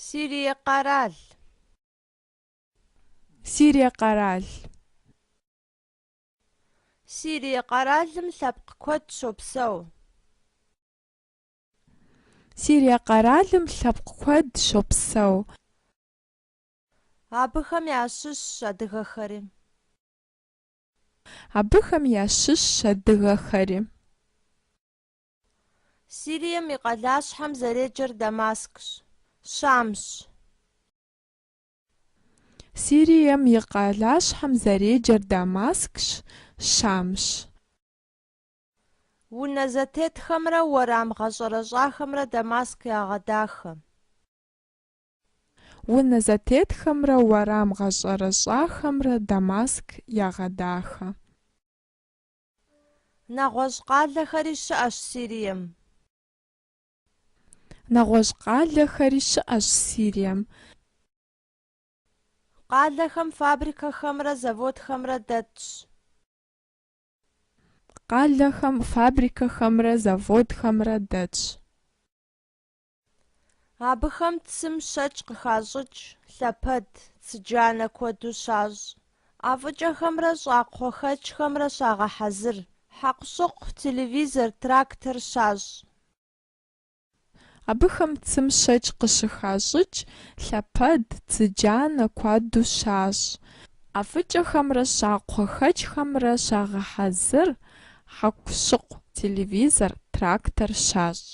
Сирие къэрал. Сирие къэрал. Сирие къэралым лъэпкъ куэд щопсэу. Сирие къэралым лъэпкъ куэд щопсэу. Абыхэм ящыщщ адыгэхэри. Абыхэм ящыщщ адыгэхэри. Сирием и къалащхьэм зэреджэр Дамаскщ, Щамщ. Сирием и къалащхьэм зэреджэр Дамаскщ, Щамщ. Унэ зэтетхэмрэ уэрам гъэщӏэрэщӏахэмрэ Дамаск ягъэдахэ. Унэ зэтетхэмрэ уэрам гъэщӏэрэщӏахэмрэ Дамаск ягъэдахэ. Нэгъуэщӏ къалэхэри щыӏэщ Сирием. Нэгъуэщӏ къалэхэри щыӏэщ Сирием. Къалэхэм фабрикэхэмрэ заводхэмрэ дэтщ. Къалэхэм фабрикэхэмрэ заводхэмрэ дэтщ. Абыхэм цым щэкӏ къыхащӏыкӏ лъэпэд, цыджанэ куэду щащӏ. ӏэфӏыкӏэхэмрэ щӏакхъуэхэкӏхэмрэ щагъэхьэзыр. Хьэкъущыкъу, телевизор, трактор щащӏ. Абыхэм цым щэкӏ къыщыхащӏыкӏ лъэпэд, цыджанэ куэду щащӏ. ӏэфӏыкӏэхэмрэ щӏакхъуэхэкӏхэмрэ щагъэхьэзыр. Хьэкъущыкъу, телевизор, трактор щащӏ.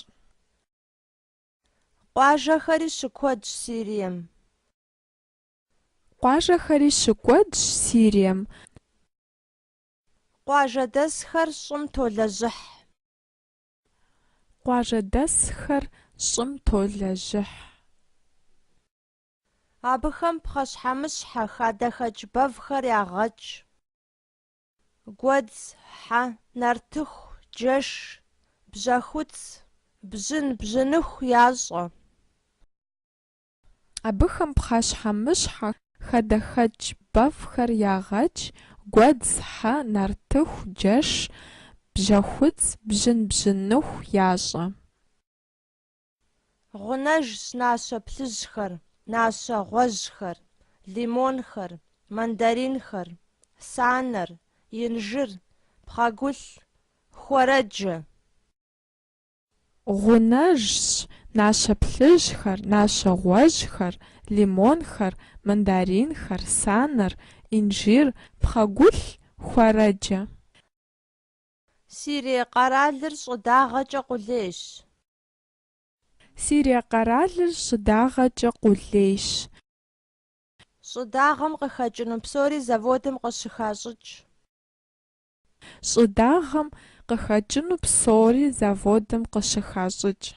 Къуажэхэри щыкуэдщ Сирием. Къуажэхэри щыкуэдщ Сирием. Къуажэдэсхэр щӏым толэжьыхь. Къуажэдэсхэр щӏым толэжьыхь. Абыхэм пхъэщхьэмыщхьэ, хадэхэкӏ бэвхэр ягъэкӏ. Гуэдз, хьэ, нартыху, джэш, бжьэхуц, бжьын, бжьыныху ящӏэ. Абыхэм пхъэщхьэмыщхьэ хадэхэкӏ бэвхэр ягъэкӏ, гуэдз, хьэ, нартыху, джэш, бжьэхуц, бжьын, бжьыныху ящӏэ. Гъунэжщ нащэ плъыжьхэр, нащэ гъуэжьхэр, лимонхэр, мандаринхэр, санэр, инжыр, пхъэгулъ, хуэрэджэ. Гъунэжщ нащэ плъыжьхэр, нащэ гъуэжьхэр, лимонхэр, мандаринхэр, санэр, инжир, пхъэгулъ, хуэрэджэ. Сирие къэралыр щӏыдагъэкӏэ къулейщ. Сирие къэралыр щӏыдагъэкӏэ къулейщ. Щӏыдагъэм къыхэкӏыну псори заводым къыщыхащӏыкӏ. Щӏыдагъэм къыхэкӏыну псори заводым къыщыхащӏыкӏ.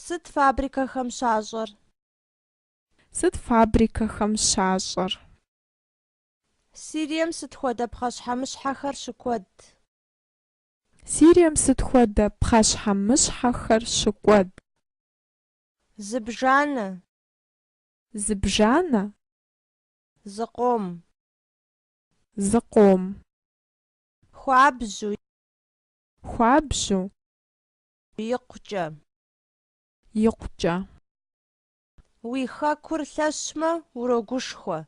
Сыт фабрикэхэм щащӏэр? Сыт фабрикэхэм щащӏэр? Сирием сыт хуэдэ пхъэщхьэмыщхьэхэр щыкуэд? Сирием сыт хуэдэ пхъэщхьэмыщхьэхэр щыкуэд? Зыбжанэ. Зыбжанэ. Зыкъом. Зыкъом. Хуабжьу. Хуабжьу. Икъукӏэ. Икъукӏэ. Уи хэкур лъэщмэ, урогушхуэ.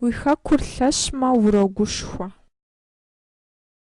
Уи хэкур лъэщмэ, урогушхуэ.